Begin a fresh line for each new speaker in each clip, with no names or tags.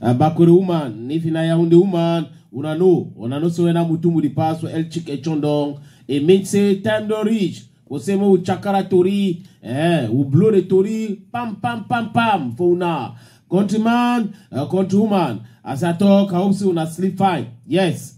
Uh, Bakuri woman, if in Yaoundé woman, una know, una know so when I'm with the pass El Chik Echondong, it means say time don't reach. Go say mo chakara tori, eh, we blow the tori, pam pam pam pam for una. Countryman, uh, countrywoman, as I talk, I hope so una sleep fine. Yes.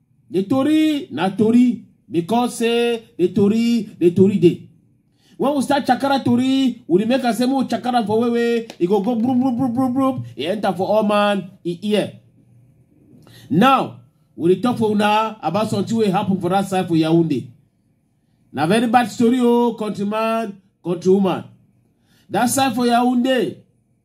The Tori, na Tori, because say the Tori, the Tori day. When we start Chakara Tori, we dey make am say more Chakara for wewe, e go go broom, broom, broom, broom, broom, e enter for all man, e ear. Now, we dey talk for una about something wey happen for that side for Yaoundé. Na very bad story o, countryman, countrywoman. That side for Yaoundé,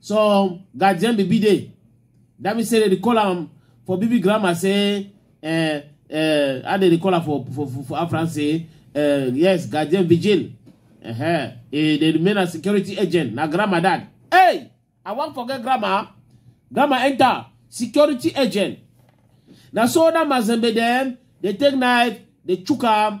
some guardian baby dey that mean say dem dey call am for baby grammar say uh, uh, how dem dey call am for for for, for afran say uh, yes guardian vigil uh -huh. e dey remain as security agent na grammar that hey i wan forget grammar grammar enter security agent na so that mazembe dem dey take knife dey chook am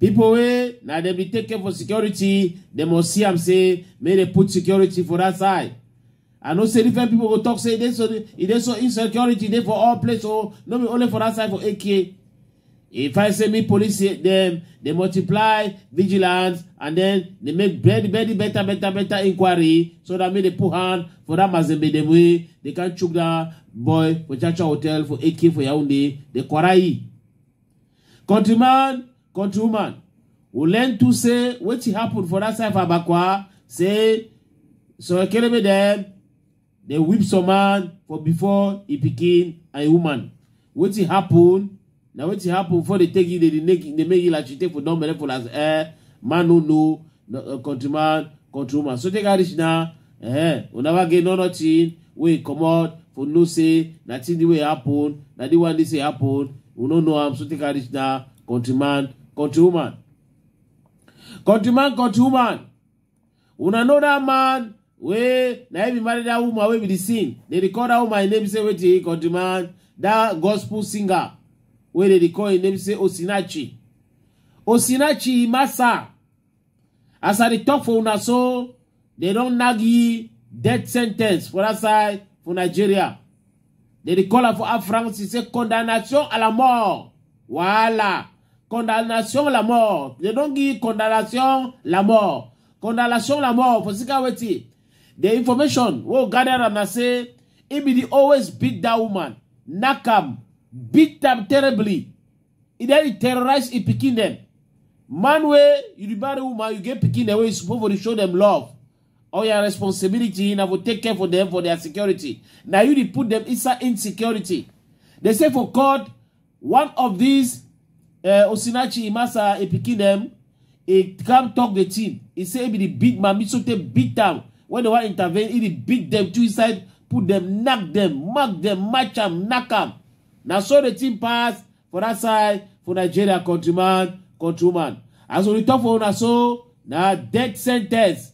People wey na dem be take care for security, dem must see am say make dem put security for that side. I know say different people go talk say e dey so e dey so insecurity dey for all place o, no be only for that side for AK. If I say me police say dem dey multiply vigilance and then dey make very very better better better inquiry so that make dey put hand for that Mazembe dem wey dey can chook that boy for Chacha hotel for AK for Yaoundé, dey quarry. Countryman, countrywoman, we learn to say wetin happen for that side for Abakwa, say so Ekerebe dem dey whip some man for before e pikin and e woman. Wetin happen? Na wetin happen before they take you, they dey make they make you like you take for don belle for as eh man no know no, uh, countryman, countrywoman. So take a reach now. eh una wa get no nothing wey comot for know say na thing the way happen na the one dey say happen we no know am so take am reach na countryman countrywoman countryman countrywoman una know that man wey na him be marry that woman wey be the sin dey dey call that woman him name say wetin countryman that gospel singer wey dey dey call him name say osinachi osinachi masa As I dey talk for una so, they don nag ye death sentence for that side for Nigeria. They dey call am for Air France, say condemnation à la mort. Wahala. Condemnation à la mort. They don give condemnation la mort. Condemnation la mort for sika wetin? The information wey we gather am na say he be the always beat that woman, knack am, beat am terribly. e don dey terrorize e pikin dem man wey you be married woman you get pikin dem wey you suppose for dey show dem love all your responsibility na for take care for dem for their security na you dey put dem inside insecurity they say for court one of these uh, osinachi imasa e pikin dem e come talk the thing e say e be the big mami so tey beat am when they wan intervene e dey beat dem two inside put dem knack dem mark dem match am knack am Na so the thing pass for that side for Nigeria countryman, countrywoman. As we talk for una so, na death sentence.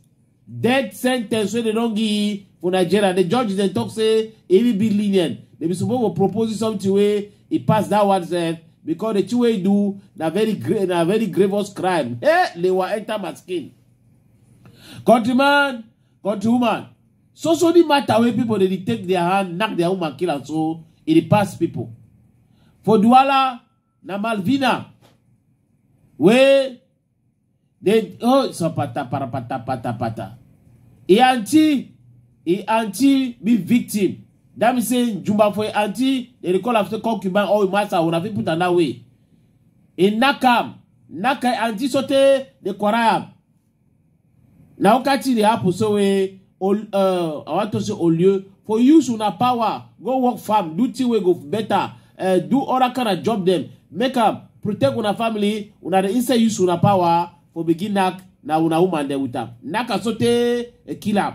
Death sentence wey dem don give for Nigeria. The judge dem talk say e will be lenient. They be supposed to propose something wey e pass that one sef because the thing wey e do na very grave na very grievous crime. Hey, lewa enter my skin. Countryman, Country woman, so so the matter wey people dey dey take their hand, knack their woman, kill am so e dey pass people. For Douala, na Malvina wey dey oh sapata parapata pata pata. E aunty, e aunty be victim. That means say Jumba for e aunty, they dey call am say concubine or master, una fit put am that way. E knack am, knack her aunty sotey dey quarrel am. na who catch dey happen so wey uh, i want to say olio for use una power go work farm do thing wey go better uh, do other kind of job dem make am protect una family una dey inside use una power for begin knack na una woman dem with am knack am sotey e kill am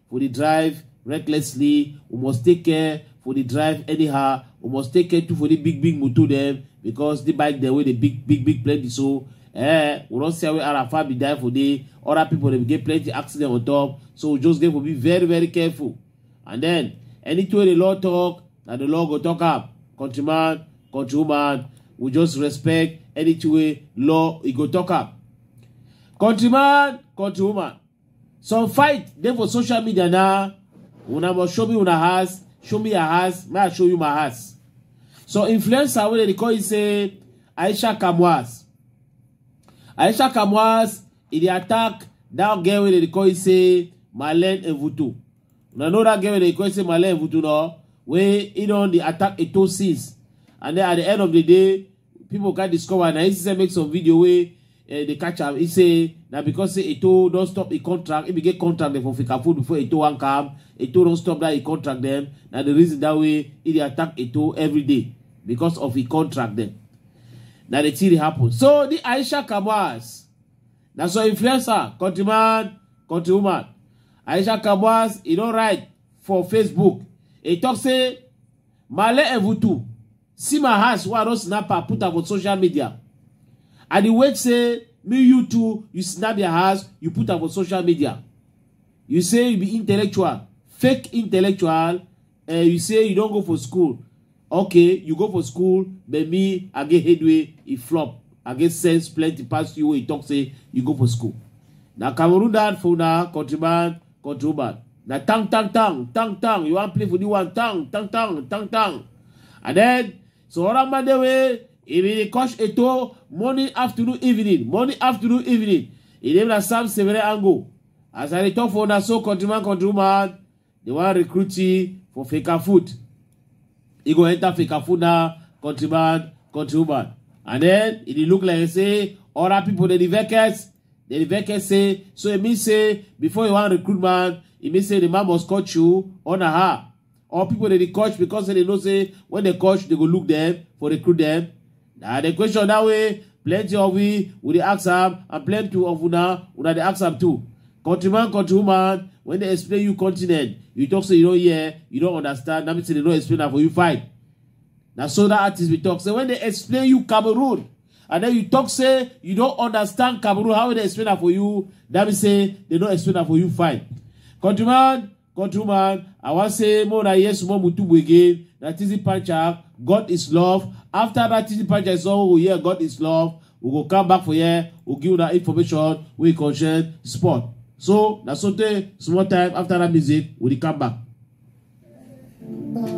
for the drive recklessly we must take care for the drive anyhow we must take care too for the big big motor dem because the bike dem wey dey big big big plenty so eh we don see how arafa be die for there other people dem get plenty accident on top so we just get to be very very careful and then anything wey the law talk na the law go talk am countryman countrywoman we just respect anything wey law e go talk am countryman countrywoman Some fight dey for social media na una must show me una house, show me your house, may I show you my house. So influencer wey dem dey call you say Aisha Kamwas. Aisha Kamwas e dey attack that girl wey dem dey call you say Marlene Evuto. Una know that girl wey dem dey call you say Marlene Evuto no? Wey e don dey attack Eto since and then at the end of the day people can discover na inside make some video wey uh, dey catch am e say na because say eto don stop e contract e bin get contract dem for fikafood before eto wan come eto don stop that e contract dem na the reason that way e dey attack eto every day because of e contract dem na the thing dey happen so the aisha kabas na so influencer countryman countrywoman aisha kabas e don write for facebook e talk say male evutu see my house wey i don snap am put am for social media i dey wait say me you too you snap your house you put am for social media you say you be intellectual fake intellectual uh, you say you don go for school okay you go for school but me i get headway e flop i get sense plenty pass you wey you talk say you go for school na cameroon dad for una countryman Control bad. Now tang tang tang tang tang. You want play for the one tang tang tang tang tang. And then so other man the way he be coach eto morning afternoon evening morning afternoon evening. He dey na Sam Severe Ango. As I dey talk for una so country man country man they wan recruit you for faker food. He go enter faker food now country man country woman. And then he dey look like say other people dey the vacants Then the veke say, so it means say, before you want recruit man, it means say the man must coach you on a her. Or people that they coach because they know say, when they coach, they go look them for recruit them. Now the question that way, plenty of we, we dey ask am, and plenty of una, una dey ask am too. Countryman, countrywoman, when they explain you continent, you talk say you don't hear, you don't understand, that means they don't explain am for you fine. Na so that artist we talk say, when they explain you Cameroon, and then you talk say you don't understand Cameroon how they explain am for you that mean say they don't explain am for you fine countryman countryman I wan say more na hear small mutubu again na Tizzy Pancha God is love after that Tizzy Pancha is all we hear God is love we go come back for here we give una information wey concern sport so na so tey small time after that music we dey come back.